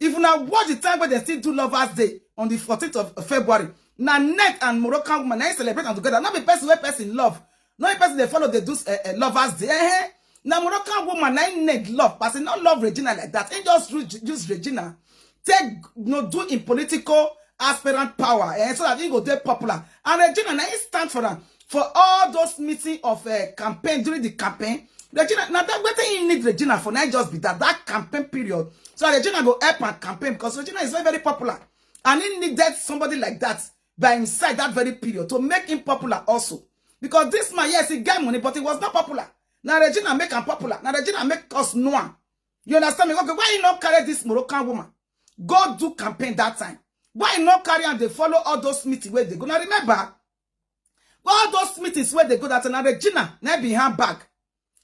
If una watch the time when they still do Lovers Day on the 14th of February, na net and Moroccan woman, na celebrate them together. Not be person where person love. Not be person they follow they do uh, uh, Lovers Day. Eh? Na Moroccan woman, na net love. Person not love Regina like that. And just use Regina. Take, no do in political aspirant power. Eh? So that he go get popular. And Regina, na stand for them. for all those meeting of uh, campaign during the campaign regina now that wetin he need regina for na just be that that campaign period so regina go help and campaign because regina is very very popular and he needed somebody like that by inside that very period to make him popular also because this man yes he get money but he was not popular Now regina make him popular Now regina make us know am you understand me okay why you not carry this moroccan woman go do campaign that time why you not carry and they follow all those meetings where they go Now remember all those meetings where they go that na regina na be her bag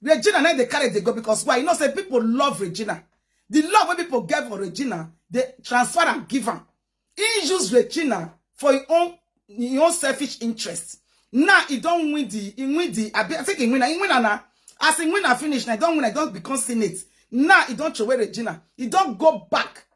regina na dey carry dey go because why you know say people love regina the love wey people get for regina dey transfer am give am he use regina for him own him own selfish interest now he don win the he win the abi i think he win am he win am na as he win am finish na he don win am he don become senate now he don throway regina he don go back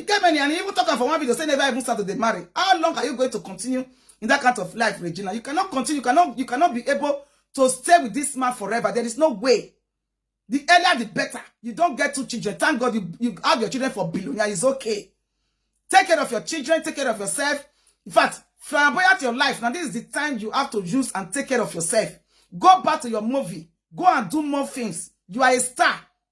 e get many and even talk am for one video say never even start to dey marry how long are you going to continue in that kind of life Regina you cannot continue you cannot you cannot be able to stay with this man forever there is no way the earlier the better you don't get two children thank God you you have your children for billionaire it's okay take care of your children take care of yourself in fact flamboyant your life now this is the time you have to use and take care of yourself go back to your movie go and do more things you are a star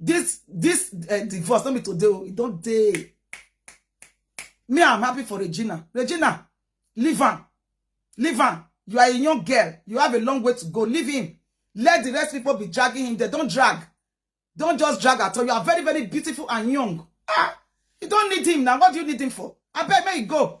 this this uh, divorce no be today o e don dey me i'm happy for regina regina leave am leave am you are a young girl you have a long way to go leave him let the rest people be dragging him they don drag don just drag at all you are very very beautiful and young ah you don need him now what do you need him for abeg make you go